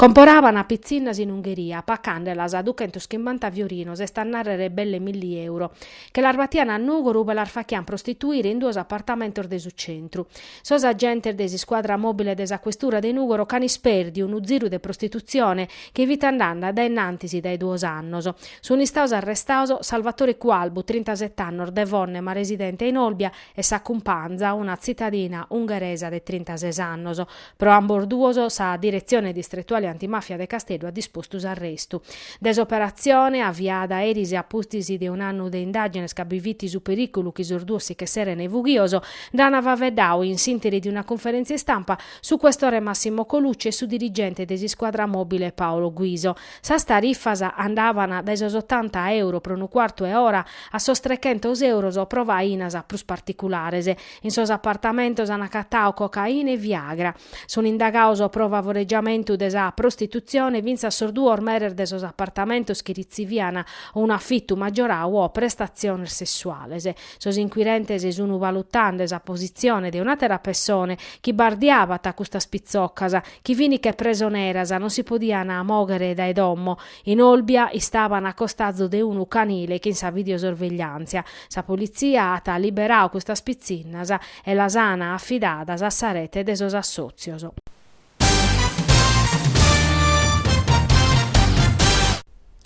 Comporabant pitzinnas in Ungheria, pacàndelas a duchentuschimbanta fiorinos, est a nàrrere belle milli euro, che las batiant a Nùgoro ube las fachiant prostituire in duos apartamentos de su centru. Sos agentes de s'iscuadra mòbile de sa questura de Nùgoro ch'ant ispèrdiu unu ziru de prostitutzione chi fit andende dae innantis dae duos annos, sunt istaos arrestaos Salvatore Cualbu, trintaset'annos, de Fonne ma residente in Olbia, e sa cumpanza, una tzitadina ungheresa de trintases annos, Pro ambos duos sa Diretzione Distretuale Antimafia de Casteddu at dispostu s'arrestu. De s'operatzione, aviada eris a pustis de un'annu de indàgines ca bi fit su perìculu chi sos duos si ch'esserent fughios, nd'ant faveddau, in s'ìnteri de una cunferèntzia istampa, su questore Massimo Colucci e su dirigente de s'iscuadra mòbile Paolo Guiso. Sas tarifas andavant dae sos otanta euro pro unu cuartu 'e ora a sos trechentos euros pro fainas prus particulares. In sos apartamentos an acatau cocaina e viagra. Sun indagaos pro favoregiamentu de sa prostitutzione fintzas sos duos meres de sos apartamentos chi ritzivian unu afitu maggiorau o prestatziones sessuales. Sos inquirentes sun valutende sa positzione de un'àtera pessone chi bardiabat custas pitzoccas, chi fin che presoneras, non si podian mòghere dae domo, In Olbia istaban a costazu de unu canile chin sa videosorvegliàntzia. Sa politzia at liberau custas pitzinnas e las ana afidadas a sa rete de sos assòtzios.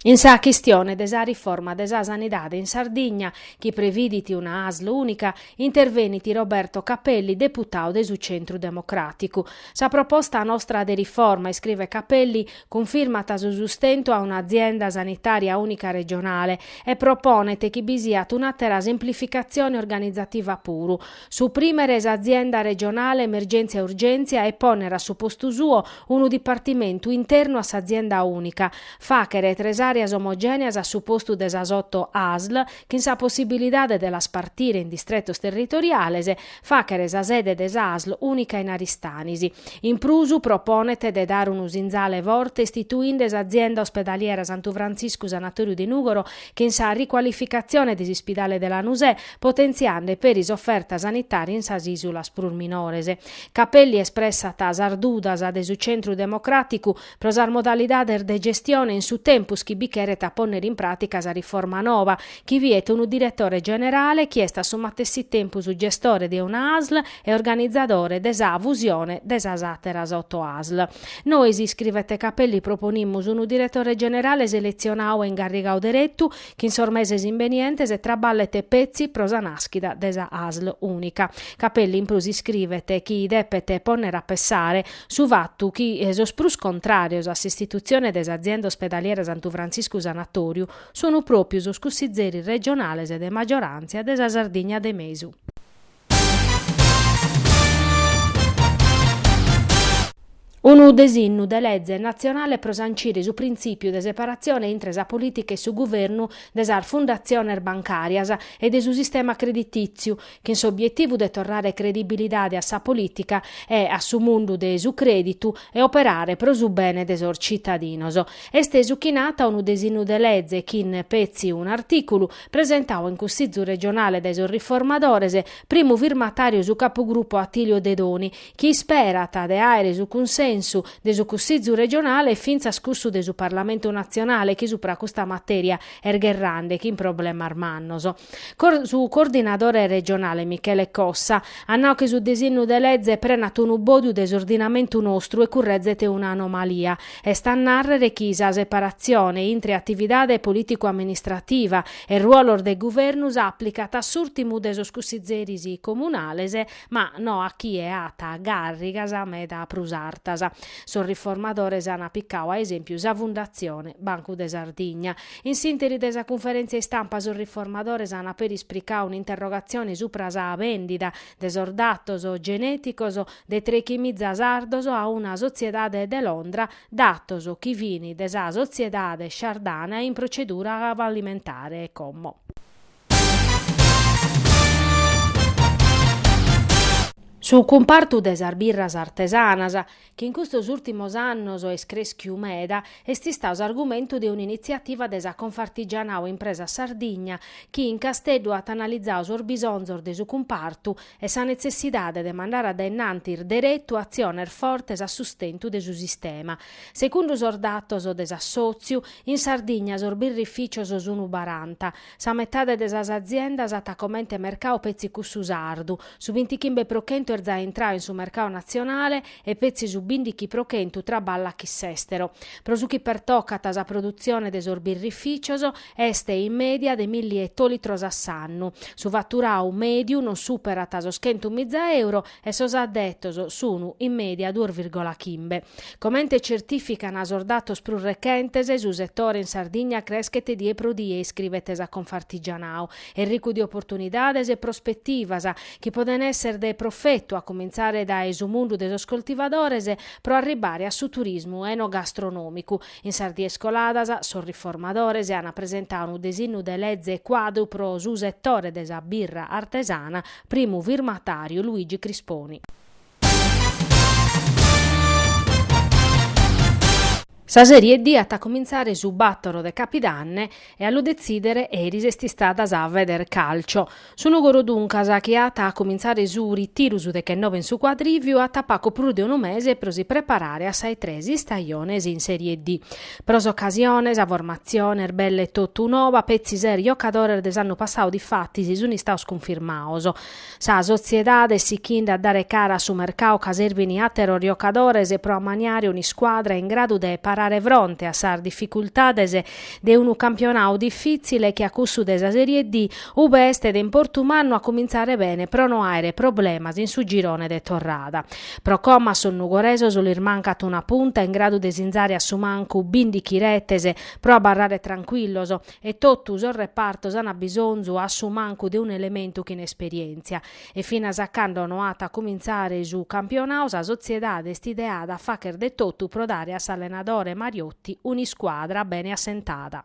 In sa chistione de sa riforma de sa sanidade in Sardigna, chi previdit una asl ùnica, intervenit Roberto Capelli, deputau de su Centru Democràticu. Sa proposta nostra de riforma, iscrivet Capelli, Cunfirmat su sustentu a un'azienda sanitària ùnica regionale e proponet chi bi siat un'àtera semplificatzione organizativa puru, suprimere s'azienda regionale emergèntzia e urgèntzia e pònnere a su postu suo unu dipartimentu internu a s'azienda ùnica, fàchere tres àreas omogèneas a su postu de sas oto ASL chin sa possibilidade de las partire in distretos territoriales, fàchere sa sede de sa asl ùnica in Aristanis. In prus, proponet de dare unu sinzale forte istituinde s'Azienda Ospedaliera Santu Frantziscu Sanatòriu de Nùgoro chin sa ricualificatzione de s'ispidale de Lanusè, potentziande peri s'oferta sanitària in sas ìsulas prus minores. Capelli espressat sas dudas de su Centru Democràticu Pro sas modalidades de gestione in su tempus chi bi cheret a pònnere in pràtica sa riforma noba, chi viet unu diretore generale chi est a su matessi tempus gestore de una asl e organizadore de sa fusione de sas àteras oto asl. Nois, iscrivet Capelli proponimus unu diretore generale seletzionau e ingarrigau deretu, chi in sos meses imbenientes traballet petzi pro sa nàschida de sa asl ùnica. Capelli in prus iscrivet chi depet pònnere a pessare, Su fatu chi sos prus contràrios a s'istitutzione de s'Azienda Ospedaliera Santu Frantziscu Sanatòriu sunt pròpiu sos cussizeris regionales de maggioràntzia de sa Sardigna de mesu. Unu desinnu de leze natzionale pro sancire su printzìpiu de separatzione intre sa polìtica e su guvernu de sas fundatziones bancàrias e de su sistema creditìtziu, chin s'obietivu de torrare credibilidade a sa polìtica e a su mundu de su crèditu e operare pro su bene de sos citadinos. Est su chi nat unu desinnu de leze chin petzi un'artìculu, presentau in Cussizu regionale dae sos Riformadores, primu firmatàriu su capugrupo Attilio Dedoni, chi isperat de àere su cunsensu de su Cussizu regionale e fintzas cussu de su Parlamentu natzionale chi supra custa matèria est gherrande chin problemas mannos. Su coordinadore regionale Michele Cossa at nau chi su desinnu de leze prenat unu bòdiu de s'ordinamentu nostru e currezet un'anomalia, est a nàrrere chi sa separatzione intre atividade polìticu-amministrativa e ruolos de guvernu s'àplicat a s'ùrtimu de sos cussizeris comunales, ma no a chie at gàrrigas meda prus artas. Sos riformadores an picau a esèmpiu sa Fundatzione Bancu de Sardigna. In s'interi de sa cunferèntzia istampa sos riformadores an peri ispricau un'interrogatzione supra sa bèndida de sos datos genèticos de trechimiza sardos a una sotziedade de Londra, datos chi fin de sa sotziedade Shardana in protzedura fallimentare como. Su cumpartu de sas birras artesanas. chi in custos ùltimos annos est crèschiu meda, est istau s'argumentu de un'initziativa de sa Confartigianao Impresa Sardigna, chi in Casteddu at analizau sos bisonzos de su cumpartu e sa netzessidade de mandare a dae innantis deretu atziones fortes a sustentu de su sistema. Segundu sos datos de s'assòtziu, in Sardigna sos birrifìcios sunt baranta, Sa metade de sas aziendas at comente mercau petzi cussu sardu, su bintichimbe pro chentu est za intrau in su mercau natzionale e petzi su bìndichi pro chentu traballat chin s'èstero. Pro su chi pertocat sa produtzione de sos birrifìcios, est in mèdia de milli etolitros a s'annu. Su faturau mèdiu non superat sos chentu miza euro e sos addetos sun in media duos vìrgola chimbe. Comente certìficana sos datos prus rechentes, su setore in Sardigna creschet die pro die, iscribet sa Confartigianao, est ricu de oportunidades e prospetivas, chi poden esser de profetu, a comintzare dae su mundu de sos coltivadores, pro arribare a su turismu enogastronòmicu. In sas dies coladas, sos riformadores an presentau unu desinnu de leze cuadru pro su setore de sa birra artesana, Primu firmatàriu, Luigi Crisponi. Sa Serie D at a comintzare su bàtoro de Capidanne e a lu detzìdere eris est istada sa Federcalcio. Su Nùgoro duncas, chi at a comintzare su ritiru su dechennobe in su Cuadrìviu, at pagu prus de unu mese pro si preparare a sa 'e tres istajones in Serie D. Pro s'ocasione, sa formatzione est belle totu noba petzi ses giocadores de s'annu passadu difatis sunt istados cunfirmados. Sa sotziedade est sichende a dare cara a su mercadu ca serbint àteros giocadores pro amaniare un'iscuadra in gradu de parare fronte a sas dificultades de unu campionadu difìtzile che a cussu de sa Serie D ube est de importu mannu a comintzare bene pro no àere problemas in su girone de torrada. Pro como a sos nugoresos lis mancat una punta in gradu de sinzare a su mancu bìndichi retes pro abarrare trancuillos e totu sos repartos an bisonzu a su mancu de un'elementu chin esperièntzia. E finas a cando no at a cumintzare su campionadu sa sotziedade est ideada a fagher de totu pro dare a s'allenadore Mariotti un'iscuadra bene assentada.